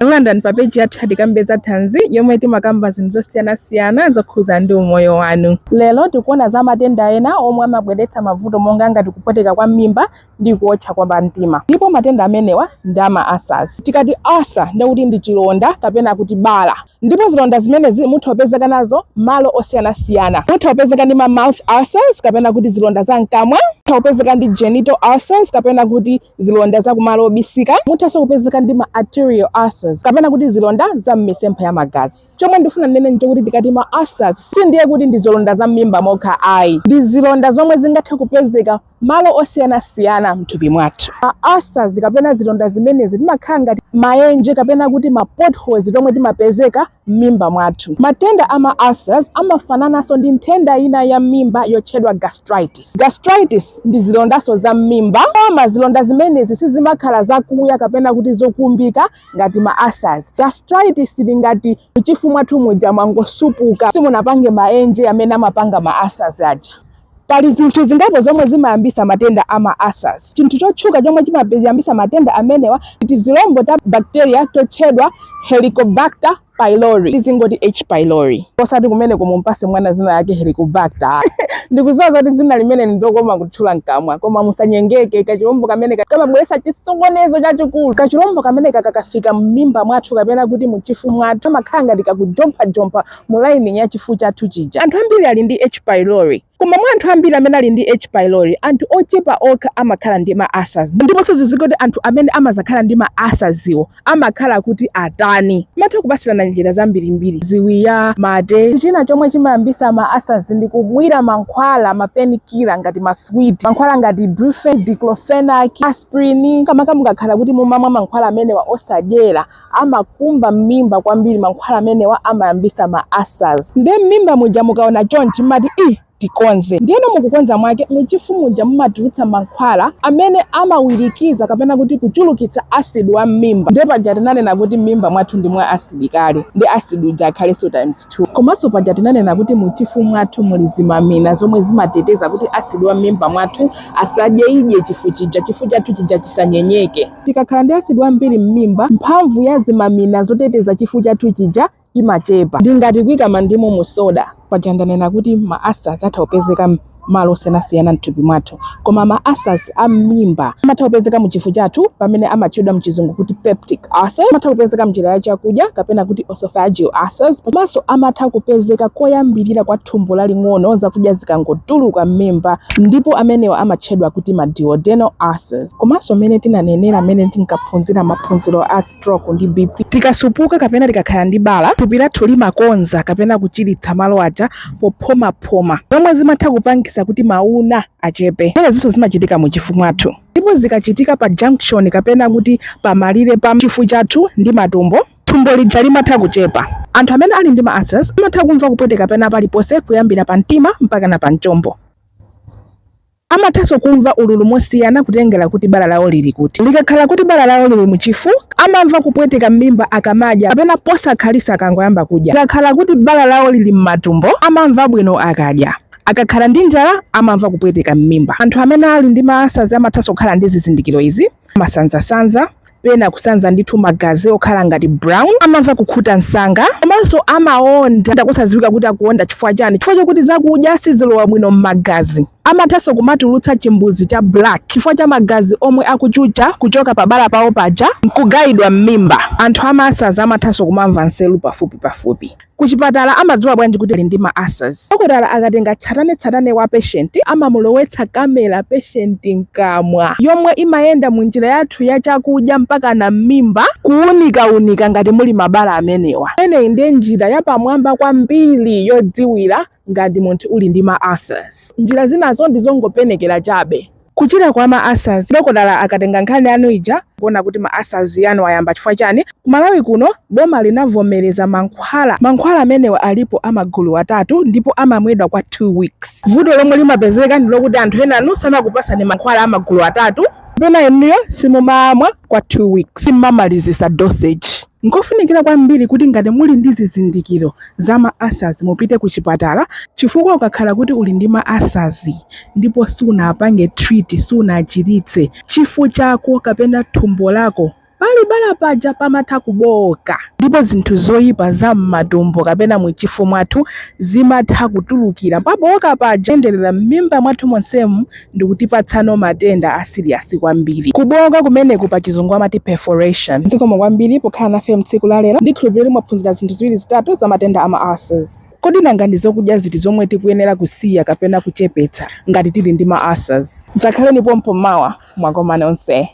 Takulandirani pa peji yathu ya Tikambe za Thanzi yomwe timakamba zinthu zosiyanasiyana zokhudza ndi umoyo wanu. Lero tikuona za matenda ena omwe amabweretsa mavuto monga ngati kupweteka kwa m'mimba ndi kuotcha kwa pamtima. Ndipo matenda amenewa ndi a ma ulcers. Tikati ulcer ndiye kuti ndi chilonda kapena kuti bala. Ndipo zilonda zimenezi mutha kupezeka nazo malo osiyanasiyana. Mutha kupezeka ndi ma mouth ulcers kapena kuti zilonda za mkamwa. Mutha kupezeka ndi genital ulcers kapena kuti zilonda za kumalo obisika muthanso kupezeka ndi ma arterial ulcers kapena kuti zilonda za m'misempha ya magazi chomwe ndifuna ndinene nchokuti tikati ma ulcers sindiye kuti ndi zilonda za m'mimba mokha ayi ndi zilonda zomwe zingathe kupezeka malo osiyanasiyana mthupi mwathu ma ulcers kapena zilonda zimenezi timakhala ngati maenje kapena kuti ma potholes tomwe timapezeka m'mimba mwathu. Matenda a ma ulcers amafanananso ndi nthenda ina ya m'mimba yotchedwa gastritis. Gastritis ndi zilondanso za m'mimba, koma zilonda zimenezi sizimakhala zakuya kapena kuti zokumbika ngati ma ulcers. Gastritis ili ngati m'chifu mwathu muja mwangosupuka, simunapange maenje amene amapanga ma ulcers aja. Pali zinthu zingapo zomwe zimayambisa matenda a ma ulcers. Chinthu chotchuka chomwe chimayambisa matenda amenewa ndi tizilombo ta bacteria totchedwa Helicobacter pylori. Tizingoti H. pylori. Osati kumeneko mumpase mwana dzina lake Helicobacter ayi. Ndikudziwa zoti dzina limeneli ndilokoma kutchula mkamwa koma musanyengeke kachilombo kameneka kamabweretsa chisokonezo chachikulu. Kachilombo kameneka kakafika m'mimba mwathu kapena kuti muchifu mwathu kamakhala ngati kakujomphajompha mu lining ya chifu chathu chija. Anthu ambiri ali ndi H. pylori. Koma mwa anthu ambiri amene ali ndi H. pylori, anthu ochepa okha amakhala ndi ma ulcers. Ndiponso zidziwike kuti anthu amene amadzakhala ndi ma ulcerswo amakhala kuti atani. Mutha kupatsirana njira zambirimbiri, ziwiya, mate. China chomwe chimayambitsa ma ulcers ndi kumwira mankhwala, ma painkiller ngati ma sweet. Mankhwala ngati brufen, diclofenac, aspirin. Makamaka mukakhala kuti mumamwa mankhwala amenewa osadyera, amakumba m'mimba kwambiri mankhwala amenewa amayambisa ma ulcers nde m'mimba muja mukaona chonchi mumati ii tikonze ndiyeno mukukonza mwake muchifu muja mumatulutsa mankhwala amene amawirikiza kapena kuti kuchulukitsa acid wa m'mimba nde paja tinanena kuti m'mimba mwathu ndi mwa acid kale nde acid uja akhalenso times 2 komanso paja tinanena kuti muchifu mwathu muli zimamina zomwe zimateteza kuti acid wa m'mimba mwathu asadyeidye chifu chija chifu chathu chija chisanyenyeke Tikakhala ndi asidi wambiri m'mimba, mphamvu ya zimamina zoteteza chifu chathu chija imachepa. Ndi ngati kuika mandimu mu soda. Paja ndanena kuti ma ulcers atha kupezeka malo osiyanasiyana m'thupi mwathu. Koma ma ulcers a m'mimba amatha kupezeka mu chifu chathu pamene amatchedwa m'chizungu kuti peptic ulcer. Amatha kupezeka m'njira ya chakudya kapena kuti oesophageal ulcers. Komanso amatha kupezeka koyambirira kwa thumbo laling'ono zakudya zikangotuluka m'mimba ndipo amenewa amatchedwa kuti ma duodenal ulcers. komanso mmene tinanenera mmene tinkaphunzira maphunziro a stroke ndi bp tikasupuka kapena tikakhala ndi bala thupi lathu limakonza kapena kuchiritsa malo aja pophomaphoma zomwe zimatha kupangisa kuti mauna achepe zimenezinso zimachitika mu chifu mwathu ndipo zikachitika pa junction kapena kuti pamalire pa chifu chathu ndi matumbo thumbo lija limatha kuchepa anthu amene ali ndi ma ulcers amatha kumva kupweteka pena paliponse kuyambira pa mtima mpaka na pa mchombo Amathanso kumva ululu mosiyana kutengera kuti bala lawo lili kuti. Likakhala kuti bala lawo lili mu chifu, amamva kupweteka m'mimba akamadya kapena posakhalisa akangoyamba kudya. Likakhala kuti bala lawo lili m'matumbo, amamva bwino akadya. Akakhala ndi njala, amamva kupweteka m'mimba. Anthu amene ali ndi ma ulcers amathanso kukhala ndi zizindikiro izi. amasanzasanza pena kusanza ndithu magazi okhala ngati brown amamva kukhuta msanga komanso amaonda kusadziwika kuti akuonda chifukwa chani chifukwa chokuti zakudya sizilowa bwino m'magazi amathanso kumatulutsa chimbuzi cha black chifukwa cha magazi omwe akuchucha kuchoka pabala pawo paja nkugayidwa m'mimba anthu a ma ulcers amathanso kumamva nseru pafupi pafupi Kuchipatala amadziwa bwanji kuti ali ndi ma ulcers? Dokotala akatenga tsatanetsatane wa patient, amamulowetsa camera patient mkamwa, yomwe imayenda mu njira yathu ya chakudya mpakana m'mimba, kuunikaunika ngati muli mabala amenewa. Imeneyi ndiye njira yapamwamba kwambiri yodziwira ngati munthu uli ndi ma ulcers. Njira zinazo ndi zongopenekera chabe. Kuchira kwa ma ulcers, dokotala akatenga nkhani yanu ija nkuona kuti ma ulcers anu ayamba chifukwa chani, ku Malawi kuno boma linavomereza mankhwala, mankhwala amenewa alipo a magulu atatu ndipo amamwedwa kwa 2 weeks. Vuto lomwe limapezeka ndi lokuti anthu enanu sanakupatseni mankhwala a magulu atatu kapena inuyo simumamwa kwa 2 weeks, simamalizitsa dosage. Nkofunikira kwambiri kuti ngati muli ndi zizindikiro za ma ulcers mupite kuchipatala chifukwa ukakhala kuti uli ndi ma ulcers ndipo sunapange treat, sunachiritse, chifu chako kapena thumbo lako pali bala paja pamatha kubooka ndipo zinthu zoipa za mmatumbo kapena muchifu mwathu zimatha kutulukira pabooka paja kuyenderera mmimba mwathu monsemu ndikutipatsano matenda a serious kwambiri kubooka kumeneku pa chizungu amati perforation zikomo kwambiri pokhala nafe mtsiku la lero ndikhulupirira mwaphunzira zinthu ziwiri zitatu za matenda a ma ulcers kodi nanga ndi zokudya ziti zomwe tikuyenera kusiya kapena kuchepetsa ngati tili ndi ma ulcers dzakhaleni pompo mawa mwakomane onse